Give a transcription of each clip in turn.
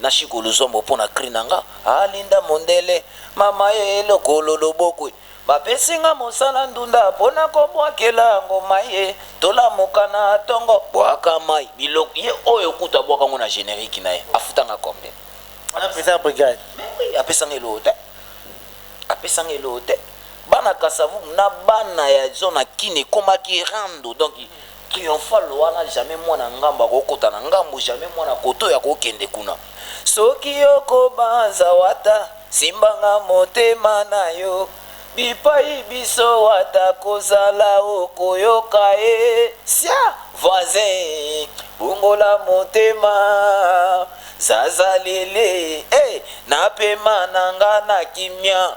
Na shiko luzombo po na cri na nga ah Linda mondele mama eh lokolo loboko eh Ba pesi nga mosala ndunda po na ko buakela ngo mayi eh To lamuka na tongo buaka mayi biloko Ye oyo kutu a buaka ngo na generique na ye a futa nga combien? A na pesa brigade Mais oui a pesa nga eloko te A pesa nga eloko te Bana Kasavubu na bana ya zona kin ekomaki rando donc Triomphal wana jamais mwana ngambo akoki kota na ngambo jamais mwana kotoyo akoki kende kuna soki yo kobanza wata simbanga motema na yo bipayi biso wata kozala okoyoka e sia voisin bongola motema zaza lele e na pema na nga na kimia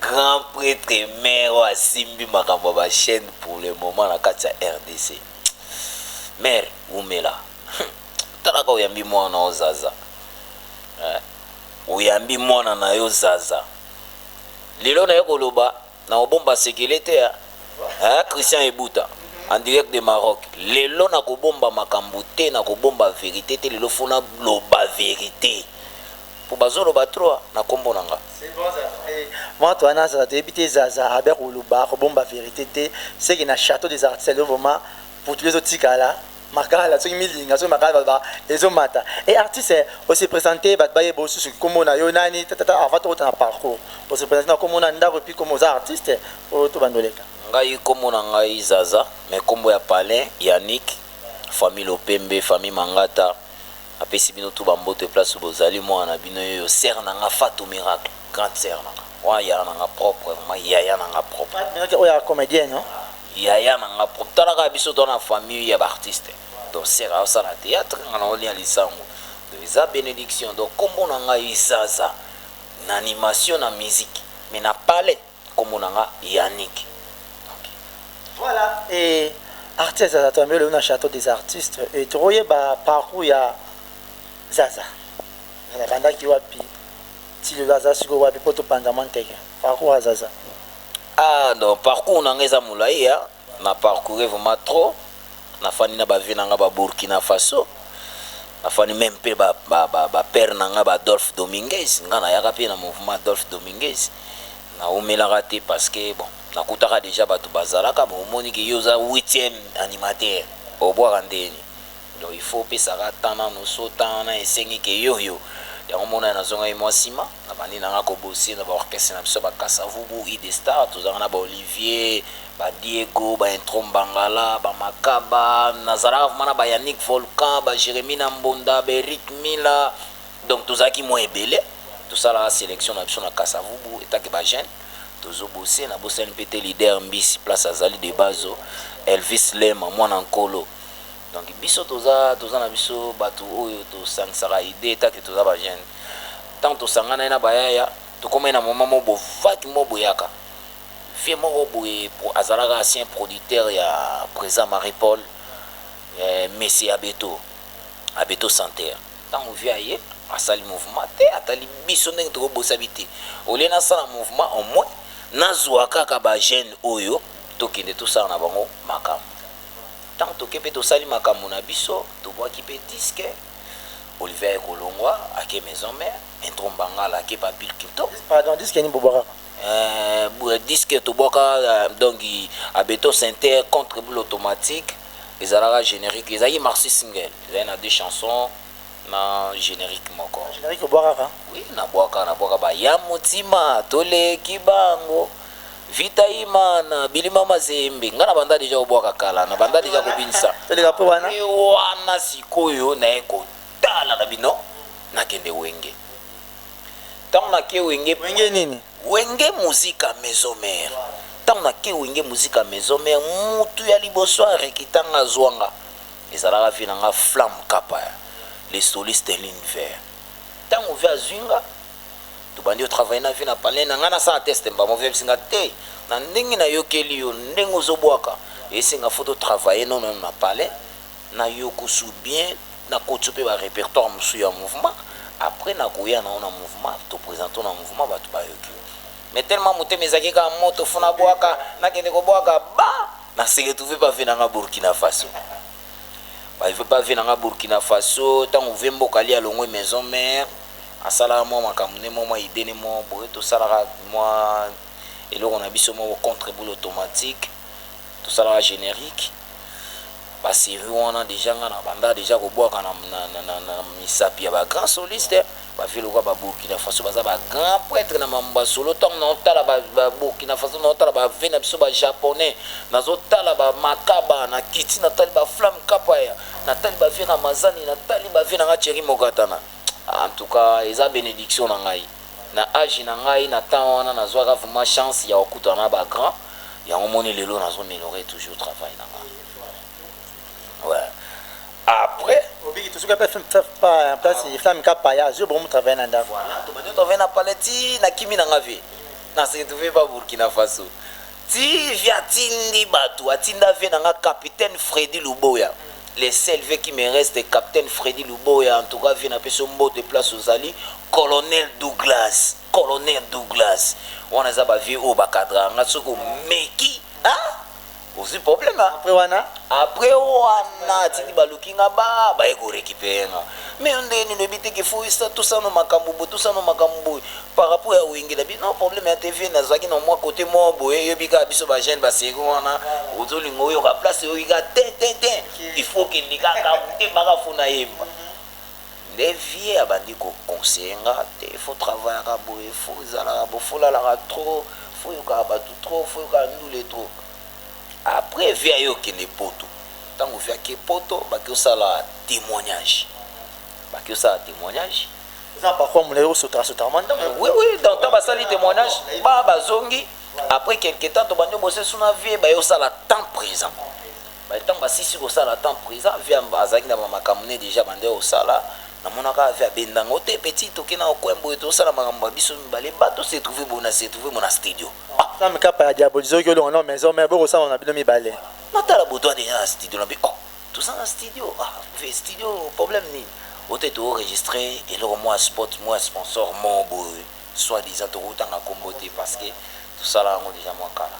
Grand pretre mère oyo asimbi makambo ya ba chaine pour le moment na kati ya rdc mère wumela hum talaka oyambi mwana na yo zaza eh oyambi mwana na yo zaza lelo naye koloba na kobomba sekele te eh eh Christian Ebuta en direct de Maroc lelo na kobomba makambo te na kobomba verite te lelo fona loba verite po bazo loba trop na kombo na nga. C'est bon ça fait muatu wana azala toyebi te zaza abia koloba akobomba verite te seke na chateau des artistes lelo vraiment putulu ezo tikala makala soki milinga soki makala baloba ezo mata et artiste o se presenter batu bayeba yo susu kombo na yo nani tatata avant tokota na parcours o se presenter na kombo na ndaku epuis kombo oza artiste oyo to banda oleka. Ngai kombo na ngai zaza mais kombo ya palin yannick famille lopembe famille mangata. Napesi bino tout ba mbote place où bozali mwana na bino yeyo sœur na nga fatou miracle grande sœur na nga wana yaya na nga propre vraiment yaya na nga propre Fatou miracle oyo ya comedienne hein. Yaya na nga propre tala kaka biso toza na famille ya ba artistes donc sœur azo sala theatre nga nazo lia lisangu donc eza benediction donc kombo na ngai zaza na animation na musique mais na palais Kombo na nga Yannick ok voila eeh Artiste Zaza Twambe lelo na chateau des artistes et toko yeba parcours ya Zaza abandaki wapi ti lelo aza sikoyo wapi po to panzama nteke parcours ya Zaza. Ah non parcours na nga eza molayi hein. Na parcourir vraiment trop na fandi na ba vieux na nga ba Burkina Faso na fandi meme pe ba ba père na nga ba Adolphe Dominguez nga na yaka pe na mouvement Adolphe Dominguez na wumelaka te parce que bon na kutaka dejà batu ba zalaka bon omoni ke yo oza huitième animateur obwaka ndeni Donc il faut opesa ka temps nanu so temps wana esengi ke yo yo yango omona nazongaki mua sima na bandi na nga ko bosser na ba orchestre na biso ya ba kasa vubu idestar tozalaka na ba olivier ba diego ba intro mbangala ba makaba nazalaka vraiment na ba yannick volcan ba jeremie na mbonda ba eric mila donc tozalaki mua ebele tosalaka selection na biso na kasa vubu etant ke ba jeune tozo bosser na bosani pe te leader mbisi place azali de base elvis lema muana nkolo Donc biso toza toza na biso batu oyo tosangisaka idee ta que toza ba jeune tango tosanganaki na ba yaya tokomaki na moment moko bovaki moko boyaka vieux moko boye azalaka ancien producteur ya president Marie Paul eh, Messi Abeto Abeto Santer tango vieux aye asali mouvement te atali biso ndenge tokobosa bi te olie nasala mouvement au moins nazwa kaka ba jeune oyo tokende tosala na bango makambo Ntango tokei mpe tosali makambo na biso, tobwaki mpe disque, Olivier aye kolongwa, ake maison mère, Intro Mbangala ake pa Bill Clinton. Pardon, disque nini bobwakaka? Euh, disque tobwaka donc a beton synthère contre boule automatique, ezalaka generique, ezalaki maxi single, ezalaki na deux chansons. Na generique moko. Generique obwakaka? Oui na bwaka na bwaka ba ya mutima to leki bango vita imana bilima mazembe nga na banda deja kobwaka kala na banda deja kobinisa toleka pe wana pe wana sikoyo na ye kotala na bino na kende wenge tango na ke wenge wenge nini wenge musique à maison mère tango na ke wenge musique à maison mère mutu ya liboso a rekitanga azwanga Ezalaka vie na nga flamme kapaya le soliste de l'univers tango vie azui nga tobandi o travailler na vie na palais na nga nasala test mbamo vie ayebisi nga te na ndenge na yokeli yo ndenge ozo bwaka eyebisi nga faut to travailler no meme na palais na yokusu bien na kotiyo pe ba repertoire mosusu ya mouvement après na koya na yo na mouvement to presente yo na mouvement batu bayoki yo mais tellement motema ezalaki kaka moto faut na bwaka na kende ko bwaka ba Na se retrouver ba vie na nga Burkina Faso Ba vie na nga Burkina Faso Tango vieux mboka Ali alongwe maison mère Asalaka mwa makambo nde mwa mwa idee nde mwa boye Tosalaka mwa eloko na biso moko contre boule automatique Tosalaka generique Ba series wana dejà nga na bandaka dejà kobwaka na misapi ya ba grands solistes Ba vieux lokola ba Burkina Faso baza ba grand pretre na mambo ba solo tango nao tala ba Burkina Faso nao tala ba vieux na biso ba japonais nazo tala ba Makaba na kiti na tali ba Flamme Kapaya na tali ba vieux Ramazani na tali ba vieux na nga Thierry Mokatana en tout cas eza benediction na ngai na age na ngai na temps wana nazuaka vraiment chance ya kokutana na ba grand yango omoni lelo nazo meliorer toujours travail na nga. Ouais. Après. Obiki tout ce que personne fait pas en place, il fait un paya, je bon travailler dans d'accord. Voilà, tu m'as travailler dans paleti, na kimi na ngavi. Na se trouver pas Burkina Faso. Ti via tindi batu, atinda vie na nga capitaine Freddy Luboya. Mm. les seuls vieux qui me reste capitaine Freddy Luboya en tout cas vie na peso mbote place ozali colonel Douglas colonel Douglas wana eza ba vieux oyo bakadra nga soki omeki ah ozui problème après wana après wana atindi baluki nga ba baye ko récupérer nga mais yo ndenge nini oyebi te ke fo esa tosala no makambo boye tosala no makambo boye par rapport ya wenge na bino problème ya tv nazalaki na mwa côté moko boye yoyebi kaka biso ba jeune baseko wana ozolinga oyoka place oyoki kaka te te te il faut kende kaka te baka fo nayemba nde vieux abandi ko conseiller nga te faut travaillaka boye faut ozalaka boye faut olalaka trop faut oyokaka batu trop faut oyokaka ndule trop après vieux aye okende poto tango vieux ake poto bake osala temoignage bake osala temoignage na parfois mulayi osotaka sotaka mwa ntango oui oui dans temps basali témoignage ba bazongi après quelque temps tobandi obosesu na vie baye osala temps présent By tango asilisi kosala temps present via azalaki na ba makambu ne dejà abandaki kosala na mona ka via abenda ngo te petit toke nao coin boye to sala makambu ba biso mibale ba to se trouve boye na se trouve boye na studio ah Sam kappa ya diabolise oyoki olonga nao maison mère boko sambama na bino mibale. Voilà na tala boto adeja na studio na lobi oh toza na studio ah vie studio problème nini o te to registre eloko mua spot mua sponsor moko boye soit disant toko tanga kombo te parce que to sala yango dejà mua kala.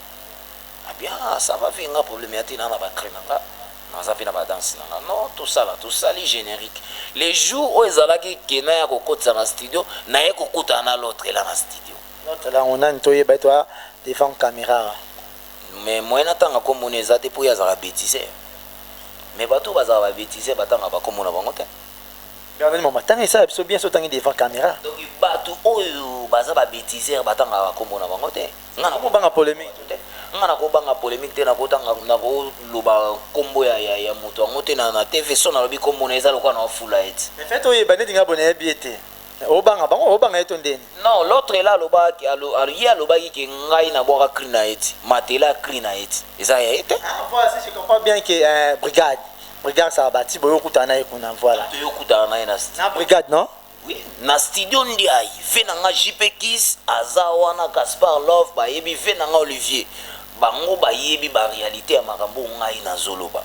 Ah bien ah ça va vie nga problème ya te na na ba cris na nga naza pe na ba danse na nga non tosala tosali generique le jour oyo ezalaki que naya ko kotisa na studio naye ko kutana na l'autre là na studio L'autre là yango nani toyeba ye toa devant camera awa. mais moyen na tanga kombo naye eza te po ye azalaka betiseur mais batu oyo bazalaka ba betiseur ba tangaka ba kombo na bango te. Bernadin Mama tanga esala biso bien soki otangi devant camera. Donc batu oyo baza ba betiseur ba tangaka ba kombo na bango te. Nga nako banga polemique te. Nga nako banga polemique te nako tanga nako loba kombo ya ya ya mutu yango te na na TV son alobi kombo naye eza lokola nao fula ye ti. Mais fait oyeba neti nga boye nayebi ye te mais obanga bango obanga ye to ndeni? Non l'autre là aloba ke alo alo ye alobaki ke ngai na bwaka cri naye ti matela ya cri naye ti eza ya ye te. Ah voila si je comprends bien ke eh brigade brigade sabati boye okutana naye kuna voila. Toye okutana naye na. Na brigade non? Na studio Ndiaye, vie na nga JP Kiss aza wana Gaspard Love bayebi vie na nga Olivier bango bayebi ba realite ya makambo oyo ngai nazo loba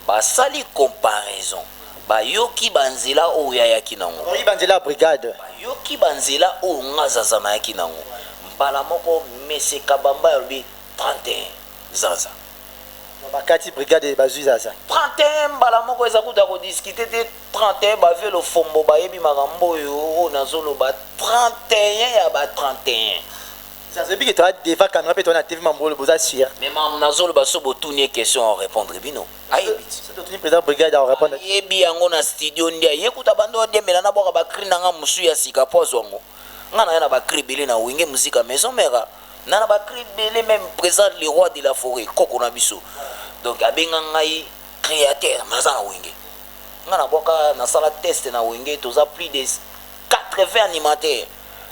basali comparaison bayoki ba nzela oyo ye ayaki nango Bayoki ba nzela ya brigade bayoki ba nzela oyo nga Zaza nayaki nango mbala moko Monsieur Kabambaya alobi 31 Zaza. Bakati brigade bazui Zaza. 31 mbala moko eza kutu ya ko discuter te. 31 ba vieux lofombo bayebi makambo oyo oyo nazo loba 31 ya ba 31. Zaza oyebi que toza deva camera pe toza na TV mambolole boza sur? Mais makambo nazo loba soki botuni ye question a repondre bino ayebi ti. Soki totuni president brigade ako repondre ti. Ayebi yango na studio nde aye kutu abanda o diembela na bwaka ba cris na nga mosusu ya sika po azua ngo. Nga naya na ba cris ebele na wenge musique ya maison mère a na na ba cris ebele meme president le roi de la foret koko na biso donc abenga ngai createur mais aza na wenge nga na bwaka na sala test na wenge toza plus des 80 animateur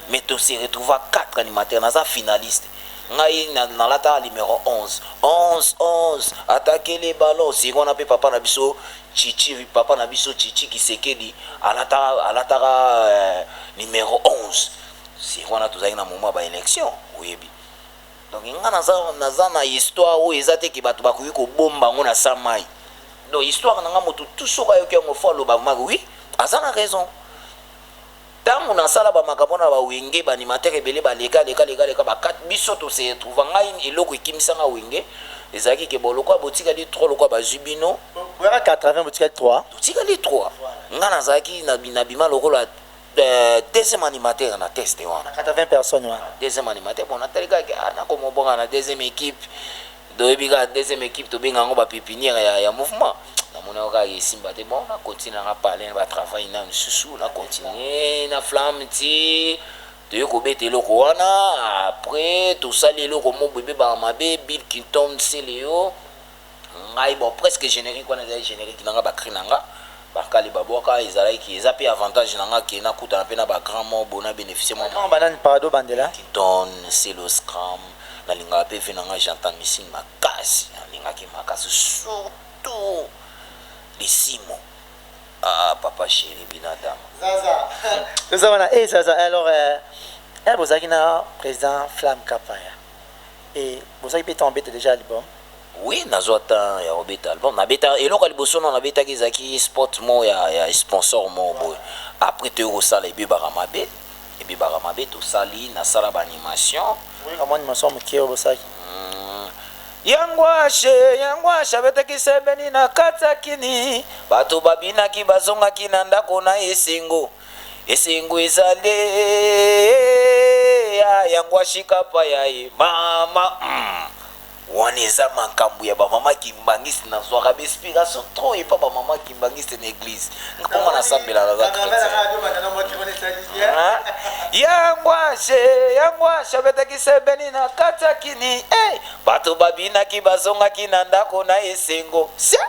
mais to se retrouva 4 animateur naza finaliste ngai na lata numero 11 11 11 attaque les ballons siko na pe papa na biso chichi papa na biso chichi kisekedi alata alataka euh, numero 11 siko na tozali na moment ba election oyebi Donc nga naza naza na histoire oyo eza te ke batu bakoki kobomba yango na sa mayi donc histoire na nga mutu tout soki ayoki yango faut aloba vraiment que oui aza na raison ntango nasala bamakambo na bawenge baanimatere ebele baleka leka leka leka bakati biso tose retrouva ngai eloko ekimisanga wenge ezalaki ke bolokwa botikali 3 lokwa bazwi bino boyaka 80 botikali 3 totikali 3 ngai nazalaki nabima lokola Deuxième animateur na teste wana. Ata 20 personnes wana. Deuxième animateur bon natali kaka ke ah nako mobonga na deuxième equipe doyebi kaka deuxième equipe tobenga yango ba pepinière ya, ya mouvement namona yo kaka esimba te bon na continue nanga palin ba travail na misusu na continue na flamme ti toye kobeta eloko wana après tosali eloko moko ebebaka mabe bill kinton seleo ngai bon presque generique wana ezalaki generique na nga ba cris na nga ba nkali ba bwaka ezalaki ki eza pe avantage na nga ke na kutana pe na ba grand mort bo na beneficie mwa Vraiment ba nani parado bandela. Don celoscram na lingaka pe vie na nga j'entends missing makasi na lingaka ye makasi surtout lisimo ah papa cheri binadama Zaza toza wana eh zaza eh alors eh eh bozalaki na president flamme kapaya. Et bozalaki pe temps obeta dejà album? Oui nazua temps ya kobeta album nabeta eloko ya liboso nao nabetaki ezalaki spot moko ya ya sponsor moko boye après toye kosala ebebaka mabe ebebaka mabe tosali nasala ba animation Oyeka mwa animation ya moke oyo bosalaki? Hum, ya ngwashe ya ngwashe abetaki sebeni na kati ya kini bato babinaki bazongaki na ndako na esengo Esengo ezali ya yango ashika pa ya ye mama hum. Wana eza makambu ya ba maman kimbanguiste na zwaka ba inspiration trop epa ba maman kimbanguiste na eglise po nga na sambelaka ka chretien hein yangwashe yangwashe abetaki sebeni na kati ya kini eh bato babinaki bazongaki na ndako na esengo sia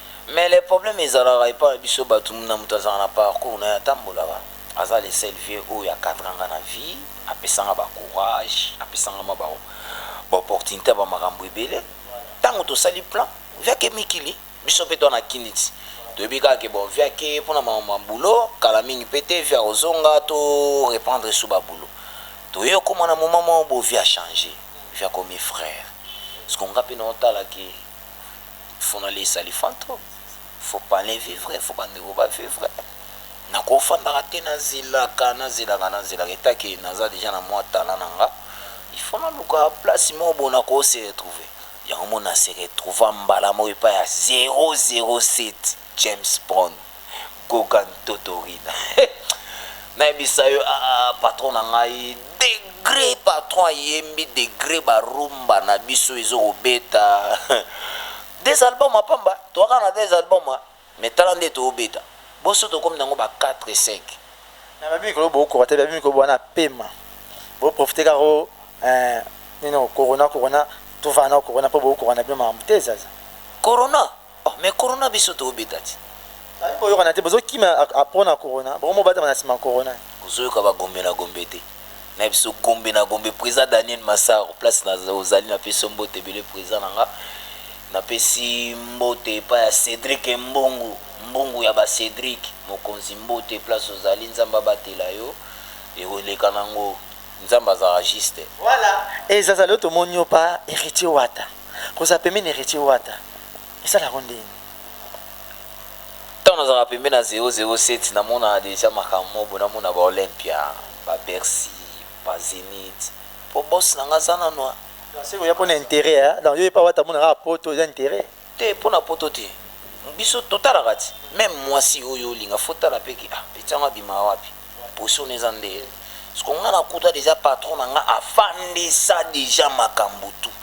Mais le problème ezalaka epa na biso batu muna mutu azalaka na parcours naye atambolaka aza le seul vieux oyo a cadra nga na vie apesa nga ba courage apesa nga mua ba opportunite ya ba makambu ebele tangu tosali plan vie ake mikili biso pe toa na kiniti toyebi kaka ke bon vie ake pona makambu ma boulot kala mingi pe te vie akozonga to reprendre sous ba boulot toye okoma na moment moko bo vie a change vie akomi frere ce que nga pe nao tala ke funoli esali fantome faut palais vivre faut bandeko ba vivre nakofandaka te nazelaka nazelaka nazelaka etake naza deja na mwa talent na nga il faut naluka place moko bo nako se retrouver yango mo na se retrouva mbala moko epai ya 007 James Brown, Gogan Totorin nayebisa yo aah patron na ngai degre patron ayembi degre ba rumba na biso ezo kobeta deux albums ya pamba toza kaka na deux albums hein mais tala nde tozo beta boso tokomi nango ba quatre cinq mais babi mikolo bokoka te babi mikolo boza na pema bo profiter kaka o eh, nino corona corona tovanda na corona mpo bokoka na bino makambo te zaza corona Oh mais corona biso to beta ti. Bazali koyokana te bozo kima a pona corona bokomi bobatama na sima corona. Bozoyoka ba gombe na gombe te na biso gombe na gombe president Daniel massaro place na ozali na pesi yo mbote ebele president na nga na pesi mbote epai ya Cedric mbungu mbungu ya ba Cedric mokonzi mbote place ozali nzambe abatela yo ekoleka na ngo nzambe azalaka juste. Voilà ezazali yo tomoni yo pa heritier wata. Kozala pembeni ya Heritier Wata esala yango ndenge nini? Tango nazalaka pembeni ya 007 namonaka dejà makambo moko boye, namona ba Olympia, ba Bercy, ba Zenith po boss na nga aza nanu a. Donc soki oya pona interet ya donc yo epa Wata omona kaka poto eza interet? Te pona poto te biso totalaka ti meme muasi oyo olinga faut otala pe ke ah petit yango abimaka wapi? Position eza nde sikoyo nga na kuta dejà patron na nga afandisa dejà makambu tout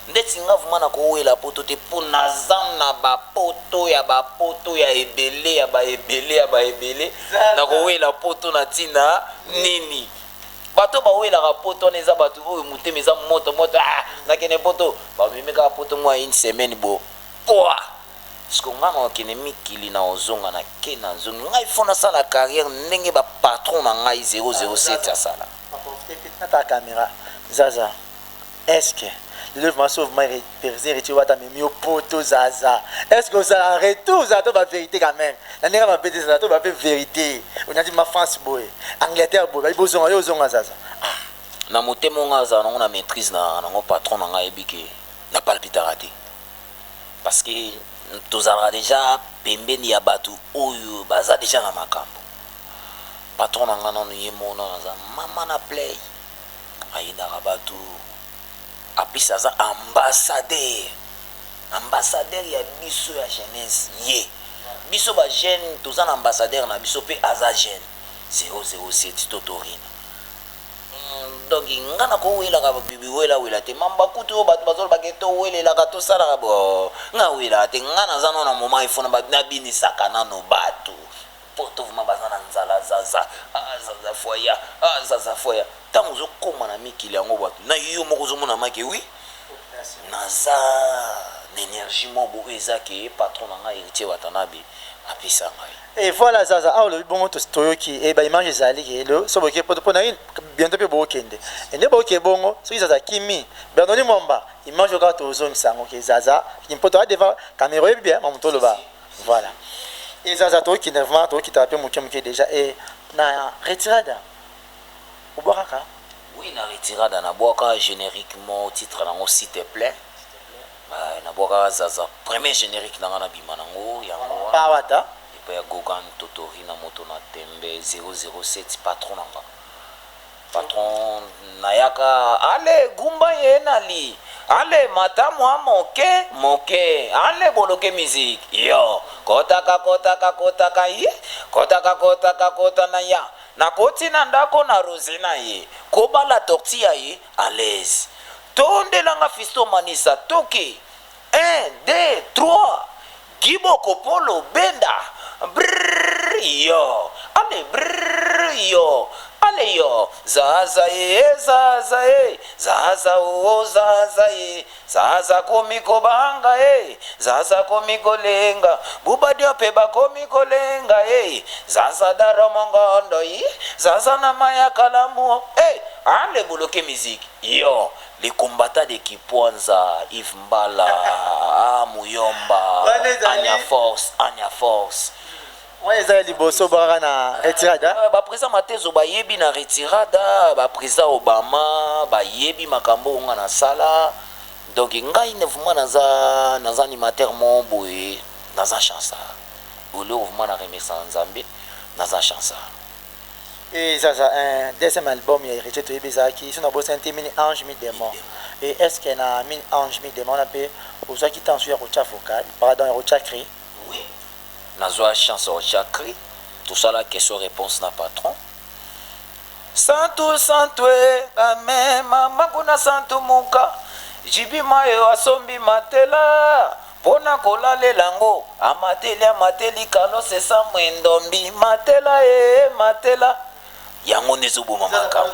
ndeti nga vraiment na ko wela poto te po naza na ba poto ya ba poto ya ebele ya ba ebele ya ba ebele na ko wela poto na tina nini bato oyo ba welaka poto wana eza bato oyo motema eza moto moto ah na kende poto ba memi kaka poto mua une semaine bo pouah Sikoyo nga nako kende mikili nako zonga na ken azongi nga il faut na sala carrière ndenge ba patron na ngai 007 asala. Tata camera zaza est ce que lelo vraiment sauf moi president Heritier wata amemi yo poto zaza est ce que ozalaka retour ozalaka to ba verite quand meme na ndenge ya mabe te zaza toloba pe verite onandi ma France boye Angleterre boye bayi bozonga yo ozonga zaza ah Na motema oyo nga nazalaka nango na maitrise na nango patron na ngai ayebi que na palpitaka te. parce que tozalaka dejà pembeni ya batu oyo baza dejà na makambu patron na nga nanu ye moko nanu aza maman na play ayinaka batu aplis aza ambassadeur ambassadeur ya biso ya jeunesse ye biso ba jeune toza na ambassadeur na biso pe aza jeune 007 totorina Hum donc nga nako welaka bibi wela wela te mamba kutu oyo batu bazo loba ke to welelaka to salaka bo nga welaka te nga naza no na moment il faut na binisaka nano batu poto vraiment baza na nzala zaza ah zaza foya ah zaza foya tango ozo koma na mikili yango batu na yo moko ozo mona make oui naza na energie moko eza ke patron na nga heritier watanabe apesa ngai Et voilà Zaza, awa olobi bongo toyoki et eh, ba image ezali ke le so boke poto pona une bientôt pe bokende. Et ne boke bongo soki Zaza kimi Bernoni Mwamba image oka tozongisa yango ke Zaza kimpoto a devant caméra oyebi bien mamu toloba. Voilà. Et Zaza toyoki nervement toyoki ta pe moke moke déjà et na retirada obwakaka oui na retirada na bwaka génériquement titre nango s'il te plaît Eeh na buakaka zaza premier generique na nga na bima na ngo yango wana epai ya gogan totori na moto na tembe 007 patron na nga patron na yaka alle gumba ye na li alle mata mua moke moke alle boloke music yo kotaka kotaka kotaka ye kotaka kotaka kota na ya na koti na ndako na rose na ye kobala torti ya ye A l'aise tondela nga fiston manisa toke un deux trois Guy boko polo benda brrrr yo ale brrrr yo ale yo zaza ee zaza ee zaza oo zaza ee Zaza akomi kobanga ee, Zaza akomi kolenga, Bubadio pe bakomi kolenga ee, Zaza Daro Mongondo ih, Zaza na mayi ya kalamu ee, Haa lebuluki musique yo, Le combattant de Kipwanza, Yves Mbala, Haa Muyomba, Anya Force, Anya Force. Wana eza ya liboso bwaka na retirada. Euh, ba president Matezo bayebi na retirada, ba president Obama bayebi makambo onga na sala. Donc ngai ne vraiment naza naza animateur mo boye naza chansa. Olio vraiment na remercier Nzambe naza chansa. Et ça, ça, un deuxième album, il y a hérité de Bizaki. Ils sont dans Boston, Mini Ange, Mi Démon. Et est-ce qu'il y a Mini Ange, Mi Démon, on a payé aux gens qui t'en suivent au Tchafokal, pardon, au Tchakri. Oui nazua chance ya kotia cri tosala question reponse na patron Santu santu e ba mema maku na santu muka JB Mayo asombi matela pona kolalela ngo amateli amateli kalo se sa mwendombi matela e matela yango nde ezoboma makambo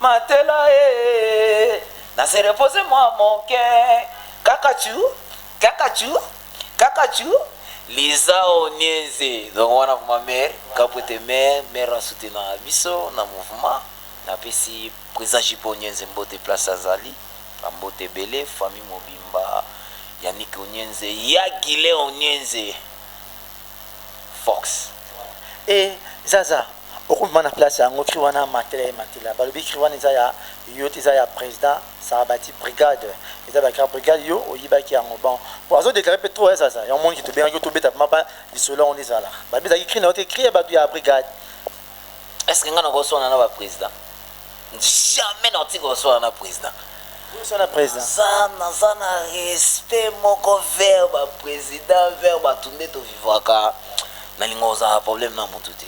Matela eeh na se reposer mua moke kaka tu kaka tu kaka tu Liza Onieze donc wana vraiment mère Kapwete mère mère na soutenaka biso na mouvement na pesi president JP Onienze mbote place azali ba mbote ebele famille mobimba Yannick Onienze ya Guylain Onienze Fox et zaza oko mema na place yango cri wana matela et matela balobi cri wana eza ya yo te eza ya president sarabati brigade eza ba cri brigade yo oyibaki yango bon po azo declare pe trop hein zaza yango omoni ke tobengaki yo tobeta vraiment ba lisolo yango nde ezala ba betaki cri na yo te cri ya batu ya brigade Est ce que nga nako swana na ba president? Jamais na kotika koswana na president. Naza naza na respect moko vers ba president vers batu nde to vivraka nalinga kozala na problème na mutu te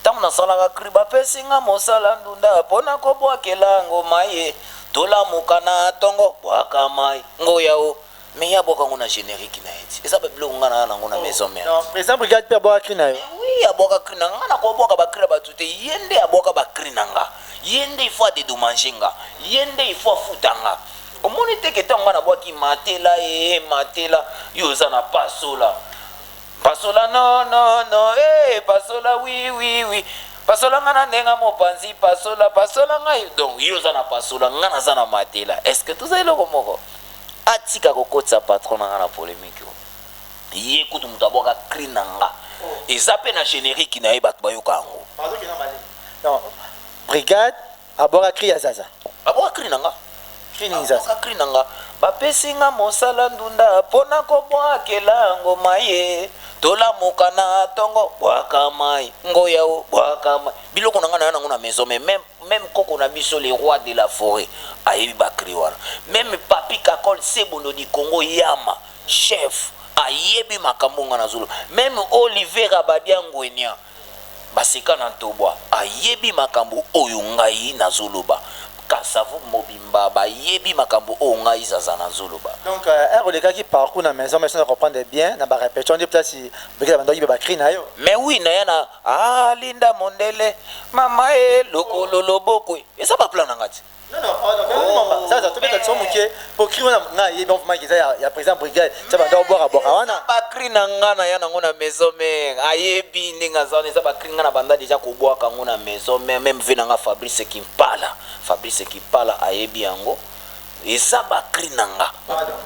ntango nasalaka cri bapesi nga mosala ndunda mpo na kobwakela ngo maye tolamuka na ntongo bwaka mai ngo yao Mais ye abwaka ngo na generique naye ti eza ba biloko nga naza nango na maison mère ti. President brigade pe abwaka cri nayo? Mais oui abwaka cri nanga nga nako bwaka ba cri ya batu te ye nde abwaka ba cri nanga ye nde il faut a dedomanger nga ye nde il faut afuta nga omoni te ke tango nga nabwaki matela ee matela yo oza na pasola pasola no no no ee pasola wi wi wi pasola nga na ndenga mopanzi pasola pasola nga donc yo oza na pasola nga naza na matela est ce que toza eloko moko Atika kokotisa patron na nga na polemique oyo. Ye kutu mutu abwaka cri na nga. Eza pe na generique na ye batu bayoka yango. Non brigade abwaka cri ya zaza. Abwaka cri na nga. Cri nini zaza? Abwaka cri na nga. Bapesi nga mosala ndunda pona kobwakela ngo maye. Tolamuka na tongo bwaka mayi. Ngoya o bwaka mayi. Biloko na nga naya na ngo na maison mais meme. Meme koko na biso le roi de la foret ayebi ba cris wana meme papy kakol sebondo du congo yama chef ayebi makambo nga nazo loba meme olive rabadia nguenia baseka na ntobwa ayebi makambo oyo ngai nazo loba kasavubu mobimba bayebi makambo oyo ngai zaza nazo loba. Donc heure olekaki parcours na maison mère soki na comprendre bien na ba repetition nde place Brigitte abandaki ba cris nayo? Mais oui naya na Ah linda mondele mama e lokolo loboko eza ba plan na nga ti. Non non oh, non oh, mama oh, zaza tobeta tso muke po cri wana nga ye donc vraiment eza ya, ya président brigade ça banda obwaka bwaka wana ba cri na nga na ya nango na maison mère ayebi ndenge aza wana eza ba cri nga na banda déjà kobwaka ngo na maison mère même vie na nga Fabrice Kimpala Fabrice Kimpala ayebi yango eza ba cri na nga pardon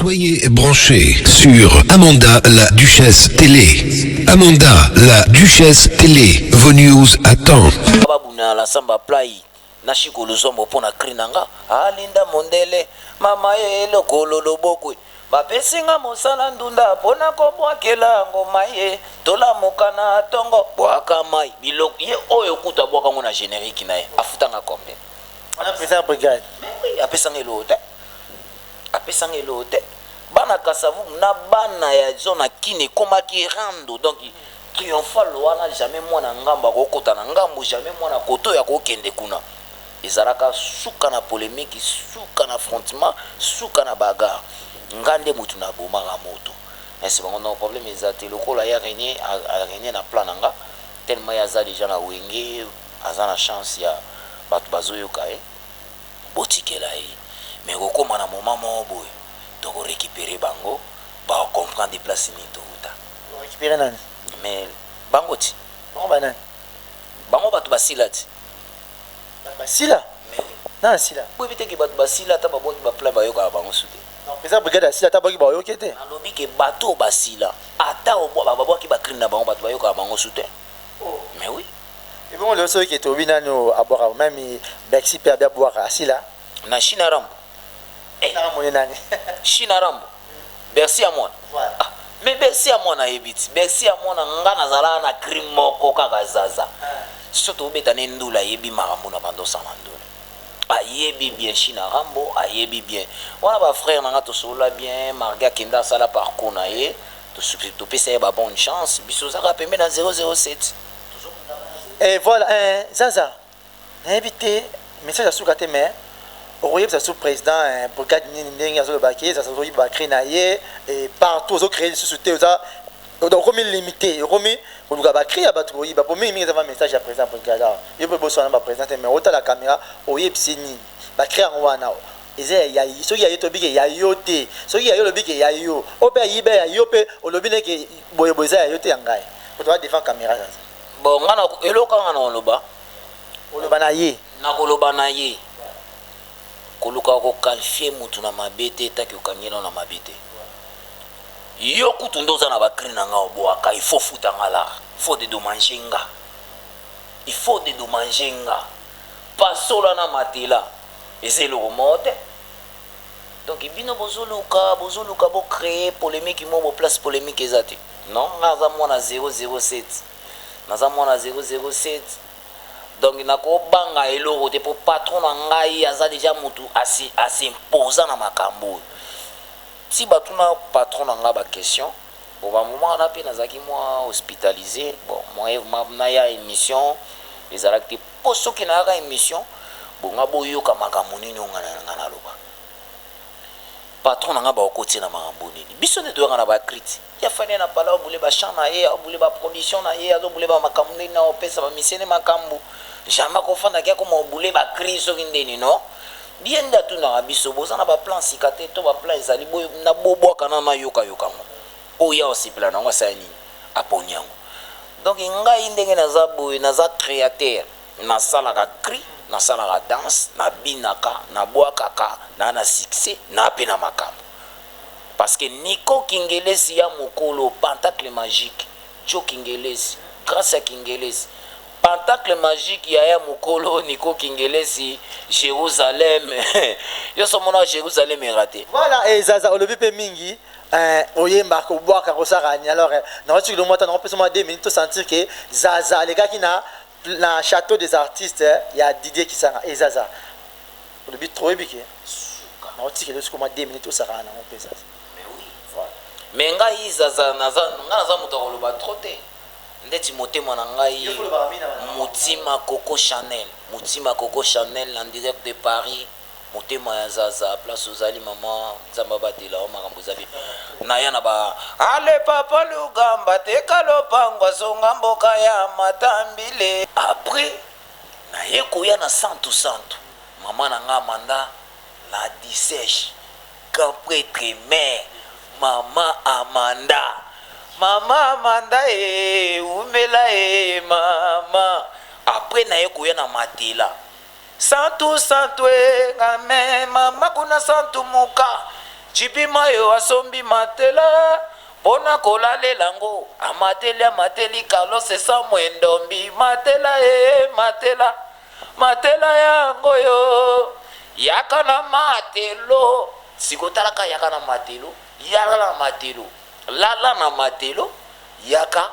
Soyez branchés sur Amanda la Duchesse Télé. Amanda la Duchesse Télé, vos news à temps. babuna la samba play na shiko luzombo mpo na cri na nga alinda ah, mondele mama ye lokolo lobokwe bapesi nga mosala ndunda mpo na kobwakela ngoma ye tolamuka na tongo bwaka mai biloko ye oyo kutu abwaka ngo na générique na ye afutanga combien apesa brigade apesanga eloko te apesa nga eloko te bana kasavubu na bana ya zona kin ekomaki rando donc triomphal wana jamais mwana ngambo akokota na ngambo jamais mwana koto ya kokende kuna ezalaka suka na polemiki suka na frontement suka na bagar nga nde motu na bomaka moto ese bango no problème eza te lokola ya renie renie na plan na nga tellement ye aza deja na wenge aza na chance ya bato bazoyoka ye eh? botikela ye mais ekokoma na moment moko boye toko recuperer bango bako comprendre place nini towuta. Bo recuperer nani? Mais bango ti. Bango ba nani? Bango batu basila ti. Batu basila? Mais. Nani asila? Boyebi te ke batu basila ata babwaki ba plan bayokaka bango su te? Donc president brigade asila ata abwaki baoyoki ye te? Nalobi ke batu oyo basila ata babwaki ba crime na bango batu bayokaka bango su te? Mais oui. Ebongo lelo soki ke tolobi nani oyo abwaka meme Bercy pe abi abwaka asila. Na shina rambo eh Shina rambo nde nani? Shina rambo Bercy amona Voilà. ah mais Bercy amona ayebi ti Bercy amona nga nazalaka na cri moko kaka zaza so tobeta ne ndule ayebi makambu na banda osala ndule ayebi bien shina rambo ayebi bien wana ba frère na nga tosolola bien marge akenda asala parcours na ye tosuki topesa ye ba bonne chance biso oza kaka pembeni ya 007. eh voilà eh zaza nayebi te message asuka te mais okoyebisa lisusu président eh, brigade nini ndenge azoloba ke zaza azoyiba cri na ye eh, partout ozocreye lisusu te oza okomi limité okomi koluka bacri ya bato koyiba po mingi mingi eza va message ya président brigade awa yo mpe boswana baprésident te mais otala caméra oyebisi nini bacri yango wana Eza ya ya soki ya yo tobi ke ya yo te soki ya yo olobi ke ya yo o pe ayiba ya yo pe olobi ne ke boye boye eza ya yo te ya ngai moto aza devant camera sasa bon nga na eloko kaka nga na oloba oloba na ye na koloba na ye koluka ko qualifier mutu na mabe te taki okangeli yo na mabe te yo kutu nde oza na ba cri na nga oboaka il faut futa nga la faut de domanger nga il faut de domanger nga pasola na matela eza eloko moko te donc bino bozo luka bozo luka bo cree polemique moko bo place polemique eza te non nga naza mwana 007 naza mwana 007 donc nako banga eloko te po patron na ngai aza deja mutu asi asi imposa na makambo oyo si batuna patron na ngai ba question bon ba moment wana pe nazalaki mwa hospitaliser bon mwa na ya emission ezalaki te Po soki nayaka emission bonga boyoka makambu nini oyo nga na nga naloba patron na nga bakokotiye na makambu nini biso nde toyaka na ba crit ya fally na pala azo bule ba chant na ye azo bule ba production na ye azo bule ba makambu nini na opesa ba miseni makambu jamais akofanda ke akoma ko bule ba cri soki ndeni no ye nde atunaka biso boza na ba plan sika te to ba plan ezali boye na bobuaka nanu nayoka yoka ngo Oyo yawe asepela na yango asala nini? Aponi yango. Donc ngai ndenge naza boye naza createur nasalaka cri nasalaka danse na binaka na bwakaka na na succès na pe na makambo parce que Nico kingelezi y'a mokolo pantacle magique djo kingelezi grace y'a kingelezi pantacle magique yaya mokolo Nico kingelezi Jerusalem yoso omonaka Jerusalem erate. Voilà et Zaza olobi pe mingi Eh oyemba ko bwaka ko saka ni alors eh, na wati kilo mwata na pesa mwa 2 minutes to sentir que Zaza alekaki na na château des artistes eh, ya Didier Kisanga et eh, Zaza olobi trop ebike na wati kilo siko mwa 2 minutes to saka na ngo pesa mais oui voilà mais ngai Zaza na za nga na za moto koloba trop te ndeti motema na ngai motima coco chanel motima coco chanel en direct de paris Motema ya zaza place ozali maman nzambe abatela yo makambo ezali naya na ba ale papa lugamba teka lopango azonga mboka ya matambile après naye koya na santu santu maman na nga amanda la diseche grand pretre mère maman amanda maman amanda ee wumela ee maman après naye koya na matela Santu santu eh nga me mama kuna santu muka JB mayo asombi matela pona ko lalela ngo amateli amateli Carlos Samue Ndombi matela eh matela matela ya ngo yo yaka na matelo siko tala ka yaka na matelo yala na matelo lala na matelo yaka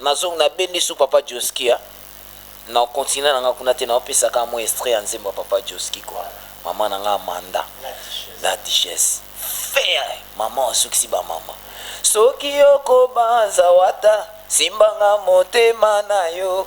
Nazongi na bendi su papa josky hein nao continue na nga kuna te nao pesa kaka mua estrait ya nzembo ya papa josky quoi maman na nga Amanda la duchesse ferre maman osukisi ba maman soki oko banza wata simba nga motema nayo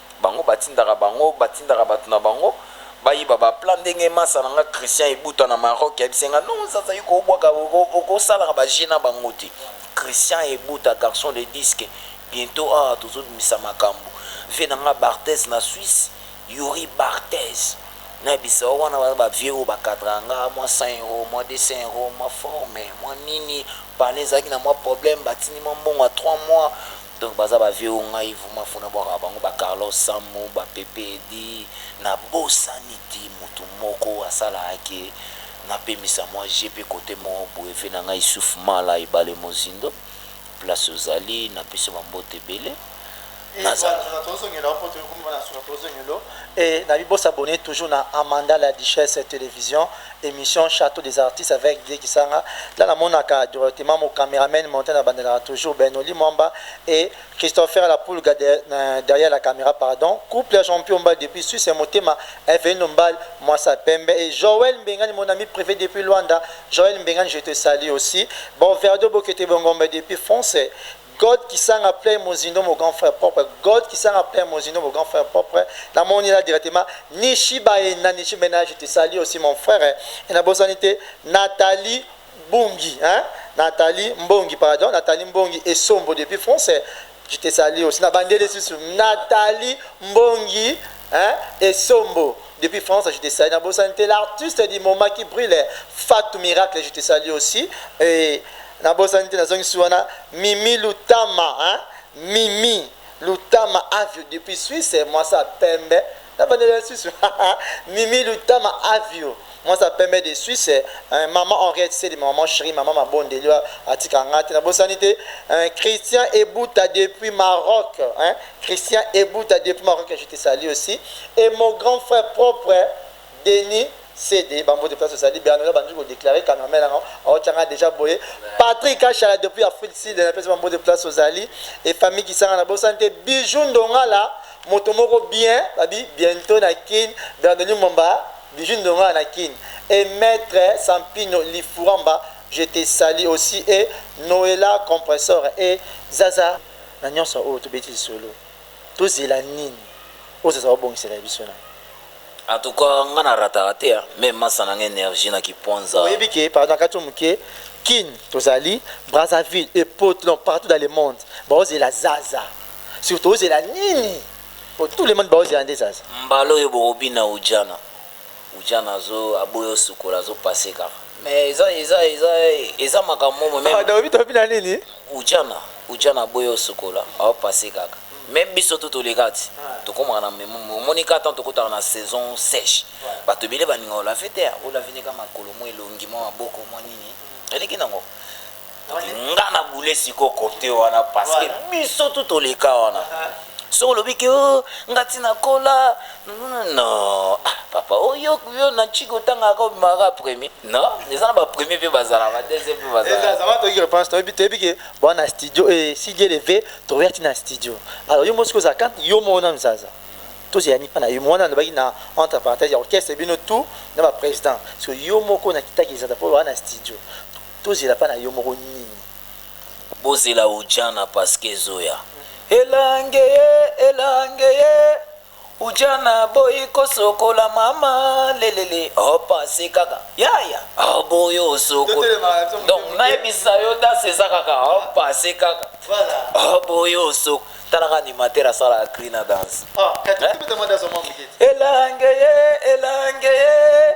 Bango batindaka bango batindaka batu na bango bayiba ba plat ndenge masa na nga Christian ibuta na Maroc yebisi nga non zaza yo kobwaka okosalaka ba jeux na bango te Christian ibuta garçon de disque bientot awa tozo bimisa makambu vie na nga Barthez na Suisse Youri Barthez na bisao wana baza ba vieux oyo ba cadraka nga mua 100 euro mua 200 euro mua forme mua nini palais ezalaki na mua problème batindi mua mbongo ya trois mois Donc baza ba vieux oyo ngai vraiment faut na bwakaka bango ba Carlos Sammu, ba Pepe Eddy, na bosani tii mutu moko asalaka que na pemisa mwa jeux pe cote moko boye vieux na ngai Issouf Mala Ebale Mozindo place ozali na pesi yo ba mbote ebele nazala. Ebale tozo zongela yo po toye komona na suka tozo zongela yo et na bi bo s'abonner toujours na Amanda la Duchesse Television. emission chateau des artistes avec Vieux Kisanga là na monaka directement mon cameraman montant na bandelaka toujours Bernoli Mwamba et Christopher la Pulga de, euh, derrière la camera pardon couple ya champion mba depuis Suisse ya motema Eveno Mbal Mwasa Pembe et Joël Mbengani mon ami privé depuis Luanda Joël Mbengani je te salue aussi bon Verdo Bokete Bongombe depuis France God kisanga plein mozindo mon grand frère propre God kisanga plein mozindo mon grand frère propre na moni la directement nishi baye na nishi mena je te salie aussi mon frère et na bosani te Nathalie bungi hein Nathalie mbongi pardon Nathalie mbongi et sombo depuis français je te salie aussi na bandeli susu Nathalie mbongi hein et sombo Depuis France je te salue na bosani te l'artiste du moment qui brille Fatou miracle je te salue aussi et na bosani te nazongisi wana Mimi Lutama hein Mimi Lutama Avio depuis Suisse moi ça pembe na bandela ya Suisse Mimi Lutama Avio moi ça pembe de Suisse hein, maman Henriette Seli maman chérie maman Mabondeli atika ngate na bosani te hein, Christian Ebuta depuis Maroc hein Christian Ebuta depuis Maroc je te salue aussi et mon grand frère propre Denis CD ba mbote place ozali Bernard ba nduko déclarer cameraman na au tchanga déjà boye Patrick Achala depuis Afrique Sud na place ba mbote place ozali et famille qui sanga na bo santé bijou ndongala moto moko bien babi bientôt na Kin Bernard Momba bijou ndongala na Kin et maître Sampino Lifuramba je te salue aussi et Noëlla compresseur et Zaza na nionso oyo tobeti lisolo tozela nini oyo zaza obongisela biso na. En tout cas nga na rataka te hein mais masta nanga energie na kipwanza. Oyebi ke pardon na kati yo muke kin tozali Brazzaville et pot non partout dans le monde bao zela zaza sur tozela nini po tout le monde bao zela nde zaza. Mbala oyo boko bina udjana. Ujana azo aboya osukola azo passe kaka mais eza eza eza eza makambo momo meme Pardon obi tobi na nini? Ujana ujana aboya osukola azo passe kaka meme biso tout toleka ti tokomaka na memo omoni kaka temps tokotaka na saison seche bato ebele balinga olave te olave nde kaka makolo mwa elongi mwa maboko mwa nini eleki nango nga na boule siko cote wana parce que biso tu toleka wana soki olobi ke oh, nga ti nakola no ah, papa oyo oh, yo na chiki otangaka obimaka premier no eza na bapremier mpe bazala badeuxième mpe bazalatoki reponse toyebi toyebi ke boa na studio e sidi eleve tokoya ti na studio alors yo mosi kozala kante yo moko na mzaza tozela nipa na yo mwana alobaki na entre parenthèse ya orchestre bino tout na baprésident parce que yo moko nakitaki ezata mpo oa na studio Tozela pa na yo moko nini? Bozela ujana parceque ezoya. Elange ye elange ye ujana boyi kosokola mama lelele opanse kaka yaya oboyi osokola donc nayebisa yo danse eza kaka opanse kaka oboyi osokola talaka animateur asalaka cri na danse ah, eh? elange ye elange ye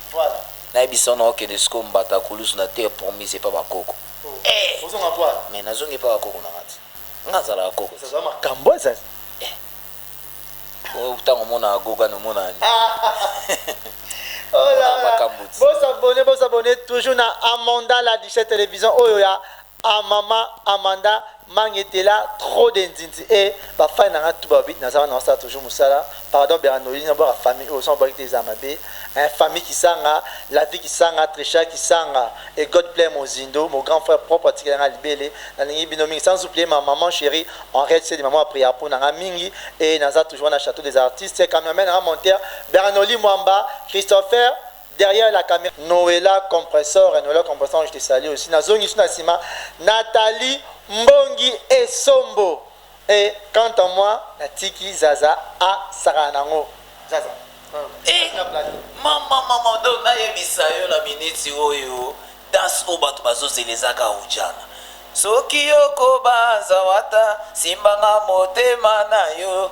Na yebisa yo nao kende sikoyo mbatakulusu na terre promise epa ba koko eeh mais na zongi epa ba koko na nga te nga na zalaka koko te eza makambu eh oyo tangu omonaka goga no monaka nini omonaka makambu te. Bo s'abonner bo s'abonner toujours na Amanda la duchesse television oyo ya Ah maman Amanda mangetela trop de nzinzi eh ba fan nanga tout balobi naza wana nasala toujours musala pardon bera noeline nabwaka famille oyo soki nabwaki te eza mabe hein famille kisanga la vie kisanga trecha kisanga et god plaire mozindo mon grand frère propre atikela nga libele nalingi bino mingi sans oublier ma maman cherie henriette sedi maman apria pona nga mingi et naza toujours wana chateau des artistes cameraman nanga monteur bernoli mwamba christopher Derrière la camera Noella compressor et Noella compressor je te salue aussi na zongi su na sima Nathalie mbongi esombo et quant à moi na tiki zaza a sakana na ngo zaza Eh, mama mama do nayebisa yo na miniti oyo danse oyo bato bazozela eza kaujana soki yokobanza wata simbanga motema na yo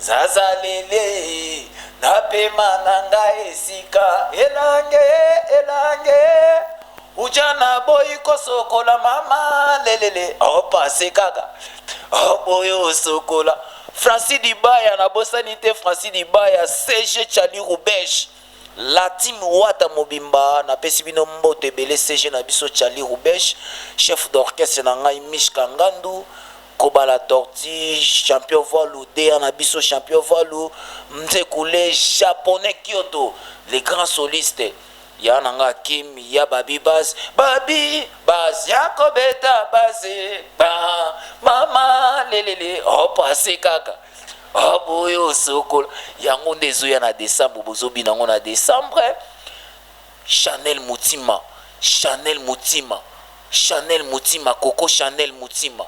Zaza lele na pema na nga esika elange elange uja na boyi kosokola mama lelele opase kaka oboyi osokola franci dibaya nabosani te franci dibaya cg chali rubesh la team wata mobimba napesi bino mboto ebele cg na biso chali rubesh chef d'orchestre na ngai mishka ngandu Kobala tortue champion vualu dea na biso champion vualu mzeku le japonais kioto le grand soliste ya na nga kim ya babi baz babi baz ya kobeta baze ba mama lelele hop ase kaka hop oyo sokola yango nde ezoya na decembre bozo bina ngo na decembre Chanel mutima Chanel mutima Chanel mutima coco Chanel mutima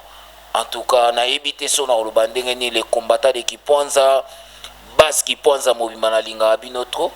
en tout cas na yebi te soki nako loba ndenge nini le combattant de kipwanza base kipwanza mobimba na lingaka bino trop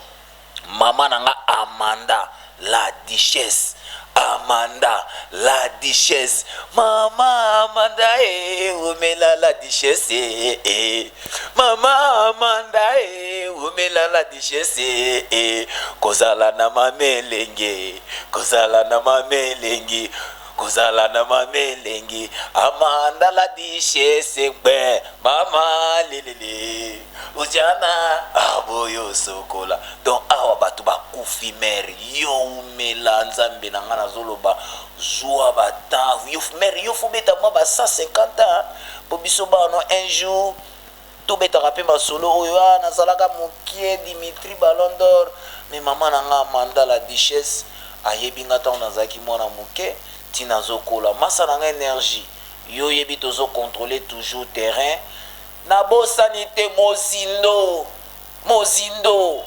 maman na nga Amanda la duchesse Amanda la duchesse maman Amanda eh wumela la duchesse eh eh Mama Amanda ee, wumela la duchesse ee, kozala na mama elengi ee, kozala na mama elengi, kozala na mama elengi, Amanda la duchesse ngbe, mama lelele, ujana aboyo sokola, donc awa batu bakufi mère, yo wumela nzambe na nga nazoloba, Zua ba temps yo mere yo faut beta mwa ba 150 ans po biso bano un jour to betaka pe masolo oyo ah nazalaka mukie Dimitri ballon d'or mais maman na nga Amanda la duchesse ayebi nga tango nazalaki mwana muke ti nazo kola masa na nga energie yo oyebi tozo controler toujours terrain nabosani te mozindo mozindo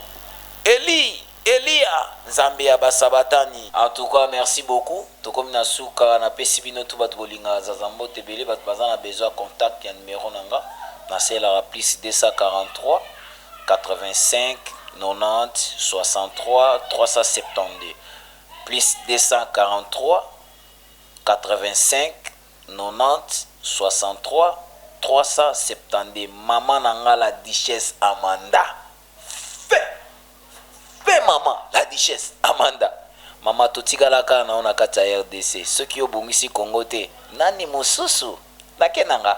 Elie Eliya nzambe ya ba sabatani. En tout cas merci beaucoup tokomi na suka na pesi bino tout batu bolingaka zaza mbote ebele batu baza na besoin ya contact ya numero na nga na selaka plus 240903603072 maman na nga la duchesse Amanda. Fe maman la duchesse Amanda maman totikala kaka na yo na kati ya rdc soki yo obongisi Congo te nani mosusu nake na nga.